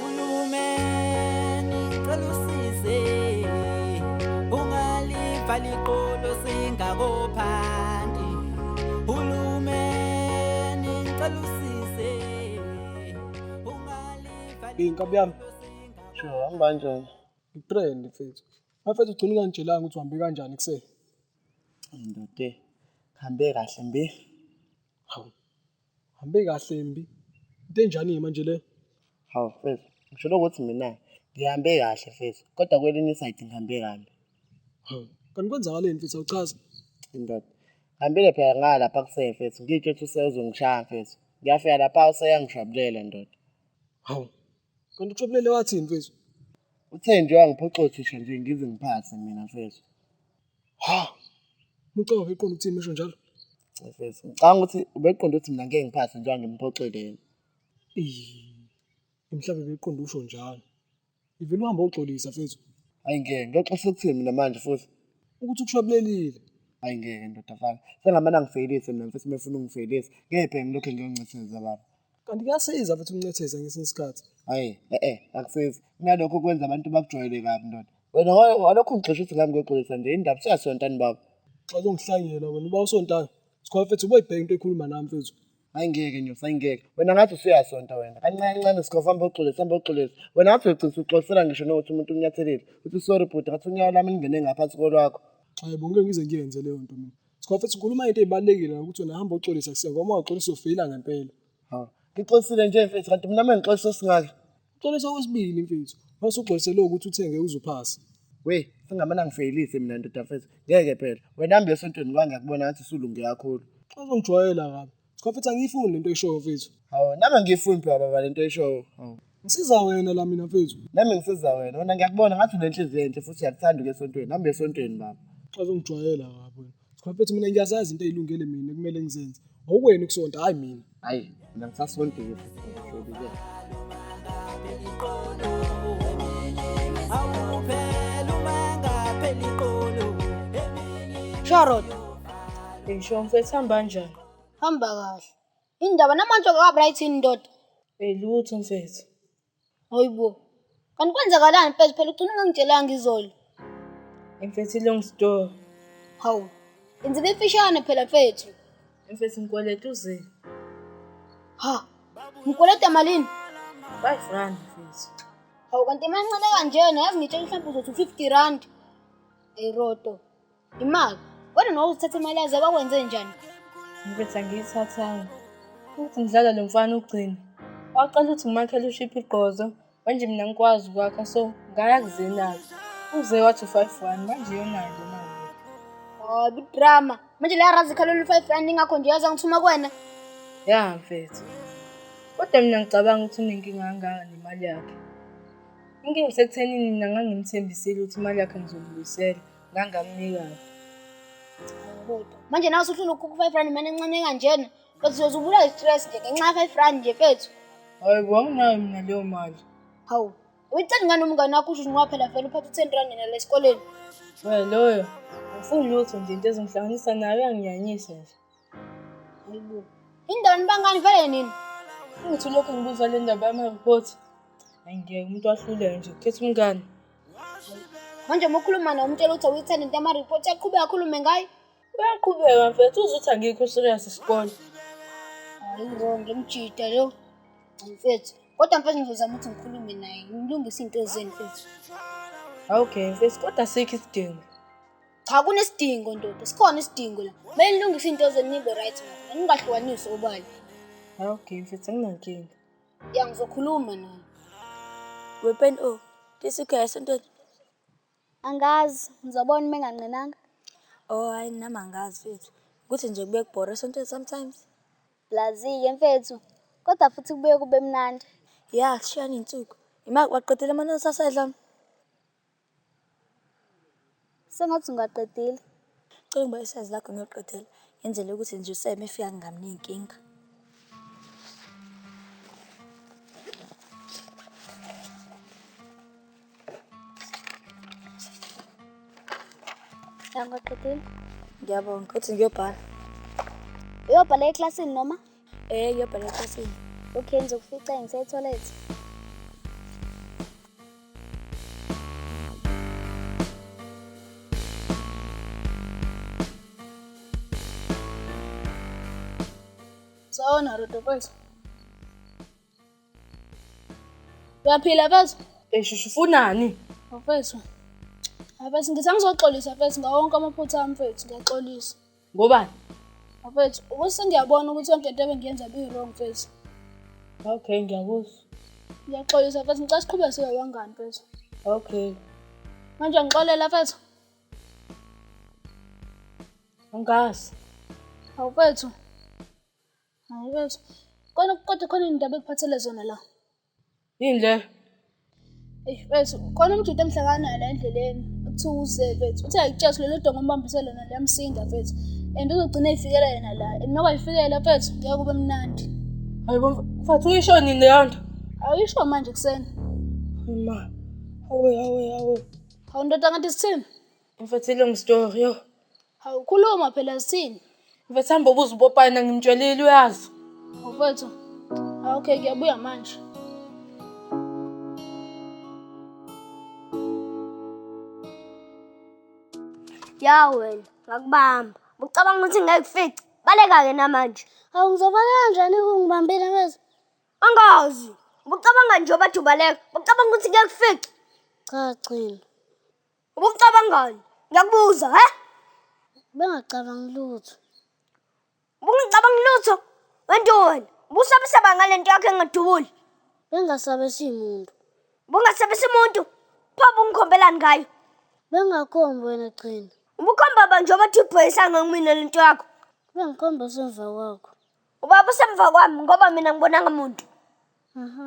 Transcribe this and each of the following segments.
Uhulumeni cela usize ungalivala iqolo singakophandi Hulumeni cela usize ungalivala Inkabi yami Sho hamba kanjani Ngitrend mfethu Mfethu ugcina unganitshelanga ukuthi uhambe kanjani kuseni Ndote hambe kahle mbe Hawu Hambe kahle mbi. Into enjani ke manje le? Hawu mfethu, ngishilo ukuthi mina ngihambe kahle mfethu, kodwa kwelinye isayidi ngihambe kabi. Hawu, kanti kwenzakaleni mfethu awuchaze? Indoda. Ngihambile phela ngalapha kuseni mfethu, ngitsho ukuthi useyozongishaya mfethu. Ngiyafika lapha useyangishwabulela ndoda. Hawu, kanti ushwabulele wathini mfethu? Uthe nje wangiphoxa othisha nje ngize ngiphathe mina mfethu. Ha. Mucawa beqonda ukuthi imisho njalo. Mfethu, ngicanga ukuthi ubeqonda ukuthi mina ngeke ngiphathe njengoba ngimphoxeleni. Mhlawumbe beqonda usho njalo. Ivele uhambe oxolisa mfethu. Hayi ngeke, ngiyoxolisa ukuthini mina manje futhi? Ukuthi ukushabulelile. Hayi ngeke ndoda fana. Sengamane angifeyilise mina mfethu mefuna ungifeyilise. Ngeke phela ngilokhu ngiyoncetheza baba. Kanti kuyasiza futhi ukuncetheza ngesinye isikhathi. Hayi, eh eh, akusizi. Kunalokho kwenza abantu bakujwayele kabi ndoda. Wena walokho ungixosha ukuthi ngami ngoxolisa nje indaba siyasontana baba. Xa uzongihlangela wena uba usontana. Sikhola mfethu uboyibheka into ekhuluma nami mfethu. Hayi ngeke nyosi, hayi ngeke. Wena ngathi usuyasonta wena. Kancane kancane sikhola hamba uxolisa, hamba uxolisa. Wena ngathi uyogcina uxolisela ngisho nokuthi umuntu unyathelile. Uthi sorry bhuti, ngathi unyawo lami lingene ngaphansi kolwakho. Hayi bo ngeke ngize ngiyenze leyo nto mina. Sikhofethu ukhuluma into ezibalekile ukuthi wena hamba uxolisa kuse ngoba uxolisa ufeyila ngempela. Ha. Ngixolisile nje mfethu kanti mina manje ngixolisa osingaka. Uxolisa okwesibili mfethu. Mase uxolise lo ukuthi uthenge uzophasa. We, singamana ngifeyilise mina ndoda mfethu. Ngeke phela. Wena hamba esontweni ngoba ngiyakubona ngathi usulunge kakhulu. Uzongijwayela kabi. Skofethu angiyifuni lento oyishoyo mfethu. Hawu nami angiyifuni phela baba lento oyishoyo. Hawu. Ngisiza wena la mina mfethu. Nami ngisiza wena. Wena ngiyakubona ngathi unenhliziyo enhle futhi uyakuthanda ukuya esontweni. Hamba esontweni baba. Xazongijwayela lapho. Skofethu mina ngiyazazi into ezilungele mina kumele ngizenze. Awukwena ukusonta hayi mina. Hayi, mina ngisasondile. Charot, ngisho mfethu hamba kanjani? Hamba kahle. Indaba namanje kwabra ithini ndoda? Elutho mfethu. Hayi bo. Kanti kwenzakalani mfethu phela ugcina ungangitshelanga izolo. Mfethu long story. Hawu. Inziba imfishane phela mfethu. Mfethu ngikweleta uze. Ha. Ngikweleta malini? 5 rand mfethu. Hawu kanti imancane kanjena yazi ngitshela mhlawumbe uzothi 50 rand. Eroto. Imali. Kodwa nawe uzithatha imali yaze bakwenze njani? Ngiphetha ngiyithathanga. Ukuthi ngidlala lo mfana ugcina. Waqala ukuthi ngimakhele ushiphi igqozo. Manje mina ngikwazi ukwakha so ngaya kuzenaka. Uze wathi u-five one manje yonayo le mali. Oh, bidrama. Manje la razi khalo lu 5 rand ingakho nje yaza ngithuma kwena. Ya mfethu. Kodwa mina ngicabanga ukuthi unenkinga kangaka nemali yakhe. Inkinga isekuthenini mina ngangimthembisile ukuthi imali yakhe ngizomubuyisela. ngangamnika buti manje nawe usufuna ukukhupha u-five rand imali encane kanjena but uyoze ubula i-stress nje ngenxa ya-five rand nje fethu hayi bo anginayo mina leyo mali hawu uyitheni ngani umngane wakho usho ngoba phela vele uphatha u-ten rand nina le esikoleni we loyo ngifuni lutho nje into ezongihlanganisa nayo uyanginyanyisa nje hayibo indawo nibangani vele nini ukuthi lokhu ngibuza le ndaba yama-report angeke umuntu wahluleke nje ukhetha umngane manje uma ukhuluma naye umtshela ukuthi awuyithanda into yamaripoti aqhubeke akhulume ngayo uyaqhubeka mfethu uzuthi angikho serious isikole hayi wrong lemjita lo mfethu kodwa mfethu ngizozama ukuthi ngikhulume naye ngilungise iy'nto zenu mfethu okay mfethu kodwa sikho isidingo cha kunesidingo ndoda sikhona isidingo la kumele nilungise iy'nto zenu nibe right mfethu ningahlukanisi obala okay mfethu anginankinga Ya ngizokhuluma naye. Wepen o, oh, tisikhaya sentweni. Angazi, ngizobona uma enganqinanga. Oh hayi nami angazi fethu. Kuthi nje kube kubhora sentweni sometimes. Blazi-ke mfethu, kodwa futhi kubuye kube mnandi. Ya, kushiyana iy'nsuku. Ima waqedela amanonisi asedla? Sengathi ungaqedile. Ngicela ungibonise isayizi lakho ngiyoqedela, ngenzela ukuthi nje uSe uma efika ngingabi ney'nkinga. Ngiyabonga, uthi ngiyobhala. Uyobhala eklasini noma? Eh yobhala ekhasini. Okay ngizokufica ngisetoilet. Sawona Rodo mfethu. Uyaphila mfethu? Esho ufunani? Mfethu. Mfethu ngithi angizoxolisa mfethu ngawonke amaphutha ami mfethu ngiyaxolisa. Ngobani? Bafethu, ukuthi ngiyabona ukuthi yonke into ebengiyenza biyi-wrong mfethu. Okay, ngiyakuzwa. Ngiyaxolisa mfethu, ngicela siqhube sibe wangani mfethu. Okay. Manje ngixolela mfethu. Angazi. Hawu mfethu. Hayi mfethu. Kodwa kodwa khona into abekuphathele zona la. Yini le? Eish mfethu khona umjita omhle kangaka la endleleni kuthiwa uze mfethu uthi ayikutsheso lelo dongo ombambise lona liyamsinda mfethu and uzogcina eyifikela yena la and uma kwayifikela mfethu ngeke kube mnandi hayi bo mfethu uyisho nini leyo nto awuyisho manje kuseni ma hawe hawe hawe hawu ndoda kanti sithini Mfethu long story yo. Hawu khuluma phela sithini? Mfethu hamba ubuze ubopana ngimtshelile uyazi. Mfethu. Ah, okay ngiyabuya manje. Ya wena ngakubamba. Ucabanga ukuthi ngeke kufice. Baleka ke namanje. Hawu ngizobala kanjani kungibambile mfethu? Angazi. Ubucabanga nje obathi ubaleka. Ucabanga ukuthi ngeke kufice. Cha Gcina. Ubucabangani? Ngiyakubuza, he? Bengacabangi lutho. Ubungacabangi lutho? Wento wena, ubusabisaba ngale nto yakho engadubuli. Bengasabesi muntu. Ubungasabisi muntu? Pho ubungikhombelani ngayo? Bengakhombi wena gcina. Ubukhomba ba nje obathi ibhoyisanga kumina le nto yakho. Bengikhomba usemva kwakho. Ubaba usemva kwami ngoba mina ngibonanga muntu. Aha,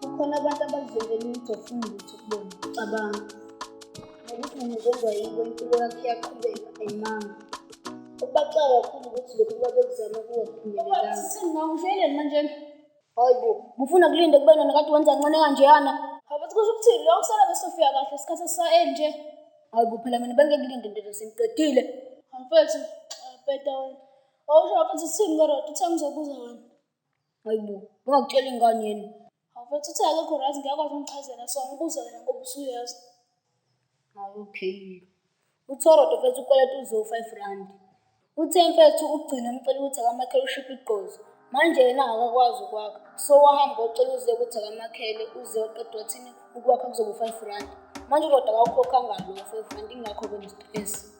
Kukhona abantu abazenzela ukuthi ofuna ukuthi kubona cabanga. Ngokuthi mina njengoba yikho impilo yakhe yaqhubeka ayimanga. Ubaxa kakhulu ukuthi lokhu babekuzama kuwaphumelelanga. Sisi ngawuhleleni manje. Hayi bo, ngifuna kulinde kube nona kade wenza kancane kanjeyana. Abathi kusho ukuthi lo kusala besofika kahle isikhathi esisaye nje. Hayi bo, phela mina bengikulinde ndoda sengiqedile. Mfethu, bheda wena. Wawusho wathi sithini kodwa uthe ngizobuza wena. Hayi bo, ungakutshela ingane yini. Awufethu uthe akekho right ngiyakwazi ungichazela so ngibuze wena ngoba usuyazi. Hayi okay. Uthorodo mfethu ukweleta uzo-five rand. Uthe mfethu ugcina umcela ukuthi akamakhele ushiphe igqozi. Manje yena akakwazi ukwakha. So wahamba ocela uze ukuthi akamakhele uze oqeda wathini ukwakha kuzoba u-five rand. Manje uroda akawukhokhanga lo five rand ingakho-ke ne-stress.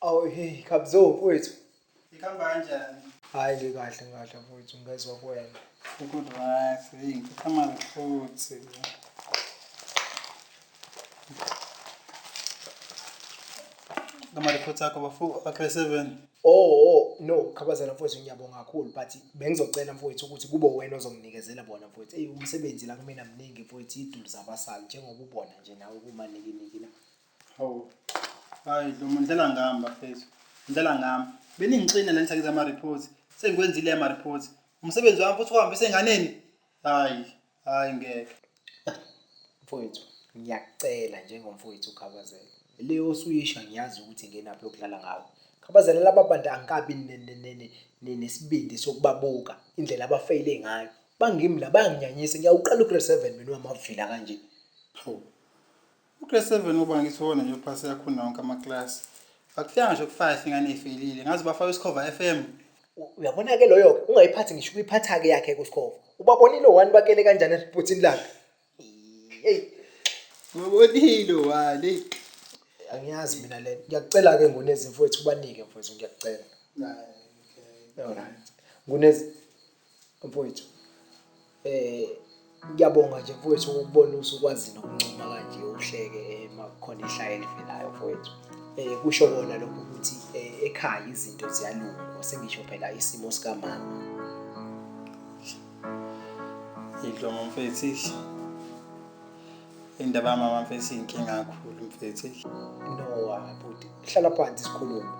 Awu hey Khabzo mfowethu. Ikhamba kanjani? Hayi ke kahle kahle mfowethu ngezwe kwena. Good wife, hey, ngikhama futhi. ngama-reports akho bafo akhe seven Oh, oh no khabazela mfowethu ngiyabonga kakhulu but bengizocela mfowethu ukuthi kube wena ozonginikezela bona mfowethu eyi umsebenzi la kumina mningi mfowethu idulu zabasali njengoba ubona nje nawe kumanikiniki la hawu hayi dlomo ndlela ngami bafethu ndlela ngami beningixina la ngisakiza ama-reports sengikwenzile ama-reports umsebenzi wami futhi uhambise enganeni hhayi Hayi ngeke. Mfowethu, ngiyakucela njengomfowethu uKhabazela. Le osuyisho angiyazi ukuthi ngenaphi yokudlala ngawe. Khabazela laba bantu angikabi nesibindi sokubabuka indlela abafeyile ngayo. Bangimi la bayanginyanyisa ngiyawuqala ugrade 7 mina wamavila kanje. Hawu. Ugrade 7 ngoba ngithi wona nje uphase yakho nonke amaklasi. Akufika ngisho ku-5 ingane ifelile. Ngazi bafaka isikhova FM. Uyabona-ke loyo-ke ungayiphathi ngisho ukuyiphatha-ke yakhe kusikhova. Ubabonile owani bakele kanjani esibhuthini lakhe. Hey. Ubabonile owani. Angiyazi mina le. Ngiyakucela-ke ngunezimfowethu ubanike mfowethu ngiyakucela. Hayi. Alright. Ngunezi Mfowethu eh ngiyabonga nje mfowethu ukubona usukwazi nokuncuma kanje uhleke eh, uma kukhona ihlaya elivelayo mfowethu eh kusho kona lokho ukuthi eh, ekhaya izinto ziyalunga sengisho phela isimo sikamama yidlo mfethu indaba yamama mfethu inkinga kakhulu mfethu no bhuti hlala phansi sikhulume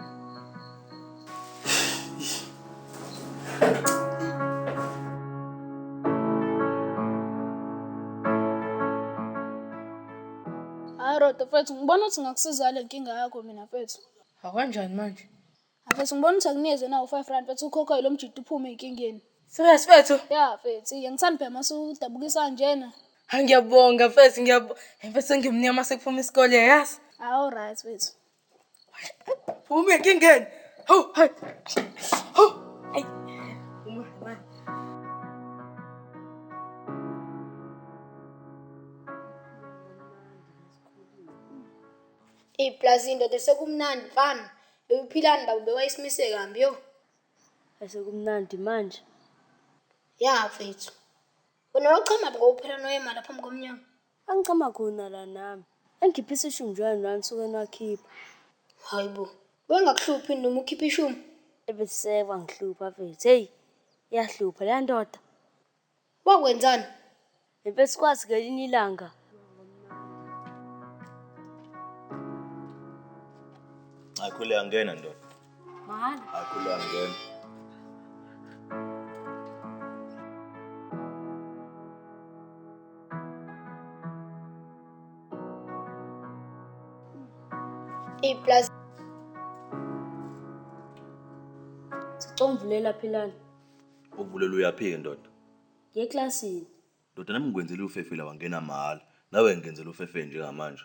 Hayi Roda mfethu ngibona ukuthi ngakusiza le nkinga yakho mina mfethu. Akanjani manje? Mfethu ngibona ukuthi akunikeze nawo five rand mfethu ukhokhe lo mjita uphume enkingeni. Serious mfethu? Ya mfethu iye ngithanda phela mase udabukisa njena. Hayi ngiyabonga mfethu ngiyabonga. Mfethu ngimnyama sekuphuma isikole yazi. Awu right mfethu. Phuma enkingeni. Hawu, hayi. Hawu. Ayi. Phuma, hayi. Iplazi indoda sekumnandi mfana. Uphilani baba bewayisimise kambi yo. Asekumnandi manje. Ya mfethu. Wena wachama ngokuphela noyema lapha phambi komnyango. Angichama khona la nami. Engikhiphe isishumi njalo nani nisuke nakhipha. Hayi bo. Bengakuhluphi noma ukhiphe ishumi? Ebesekwa ngihlupha mfethu. Hey, iyahlupha leya ndoda. Wakwenzani? Ngempela sikwazi ngelinye ilanga. Akhule angena ndoda. Mahhala. Akhula ngena. A plus. Sicomvulela philana. Ukuvulela uyaphika ndoda. Ngeclassini. Ndoda nami ngikwenzela ufefela wangena mahhala. Nawe ngenzela ufefela njengamanje.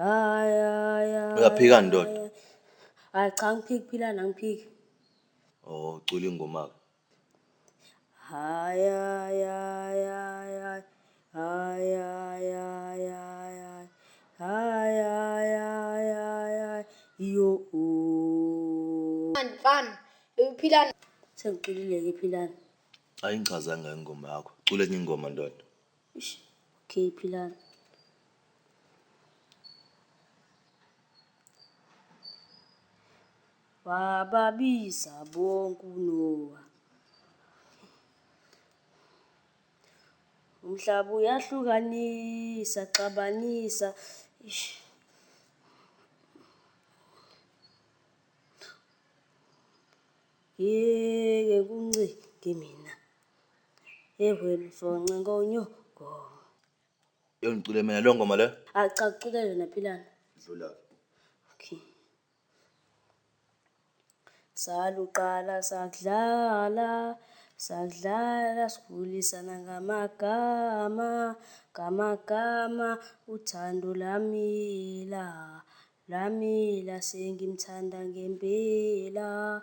Hayi hayi. hayi. Uyaphika ndoda. Hayi cha ngiphiki phila nangiphiki. Oh ucula ingoma ke. Hayi hayi hayi hayi. Hayi hayi hayi hayi. Hayi hayi hayi hayi. Yo. Mfana, uphila sengiculile ke philana. Ayingichazanga ingoma yakho. Cula enye ingoma ndoda. Eish, okay philani. Wababiza bonke uNowa. Umhlaba uyahlukanisa, xabanisa. Eish. Yeke kuncinge mina. Yehheni for Ncenkonyoko. Yo ngicule mina leyo ngoma leyo. Ah cha kucule yona Philani. Dlula. Okay. Saluqala sakudlala sakudlala sigulisana ngamagama ngamagama uthando lamila lamila sengimthanda ngempela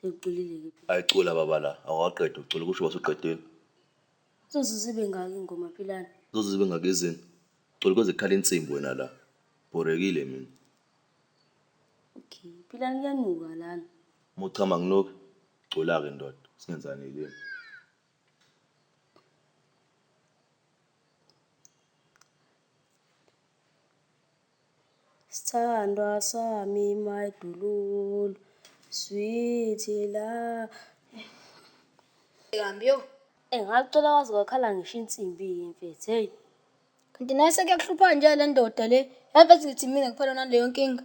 Sekuculile-ke phela. Ay cula baba la awukaqedi ukucula kusho wasuqedile. Kuzoze zibe ngaki ingoma phi lana? Kuzoze zibe ngaki izini? Cula koze kukhale insimbi wena la. Bhorekile mina. Okay, philani kuyanuka lana. Uma uchama nginuke. Cula-ke ndoda, singenzani yilimi. Sthandwa sami my dululu sweetie la Kambi yo. Eh ngacela wazi kwakhala ngisho insimbi ke mfethu hey. Kanti nawe sekuyakuhlupha nje lendoda le. Yazi ngithi mina kuphela naleyo nkinga.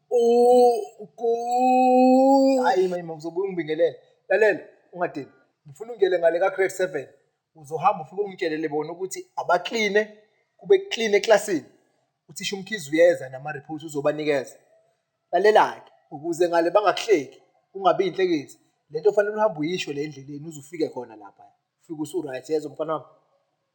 hayi manje ngizobuya ungibingelele lalela ungadini ngifuna ungele ngale ka-grade seven uzohamba ufike ungitshelele bona ukuthi abakline kube clean eklasini uthisha umkhizi uyeza nama-report uzobanikeza lalela-ke ukuze ngale bangakuhleki ungabi yinhlekisi le nto fanele uhambe uyisho le endleleni uze ufike khona lapha ufike usu-right yezo mfana wami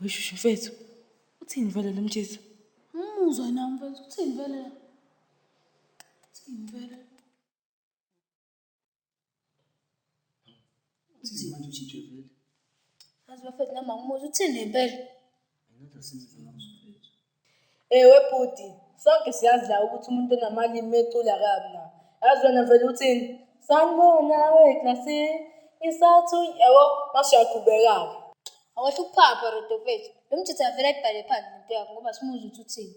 Weshushu mfethu, uthini vele lo mjitha? Umuzwa na mfethu, uthini vele? Uthini vele? Uthini manje ujithe vele? Azi bafethu nami angimuzwa, uthini ngempela? Another since Ewe bhuti, sonke siyazi la ukuthi umuntu onamalimi mecula kabi na. Yazi wena vele uthini? Sanibona weklasi, isathu yabo mase uyaqhubeka-ke. Awasho ukuphapha Rodofethu. Lo mjitha avele ayibhale phansi lento yakho ngoba simuzwa ukuthi uthini.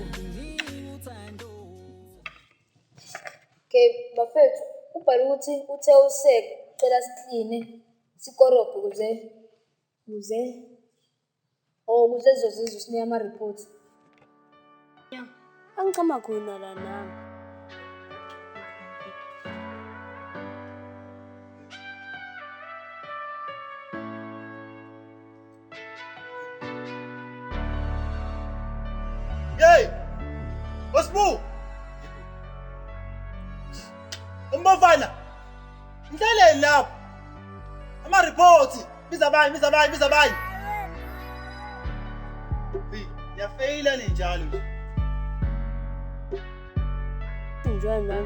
Okay, bafethu, ubhale ukuthi uthe usek ucela sikline sikorobhe kuze kuze or kuze zizozizwa usinike ama-report. Angichama khona la nami. Hey! Osbu! Umbafana! Mhlaleni lapho! Ama reports! Biza abanye, biza abanye, biza abanye! Hey, yafeyila ninjalo nje. Enjoy man.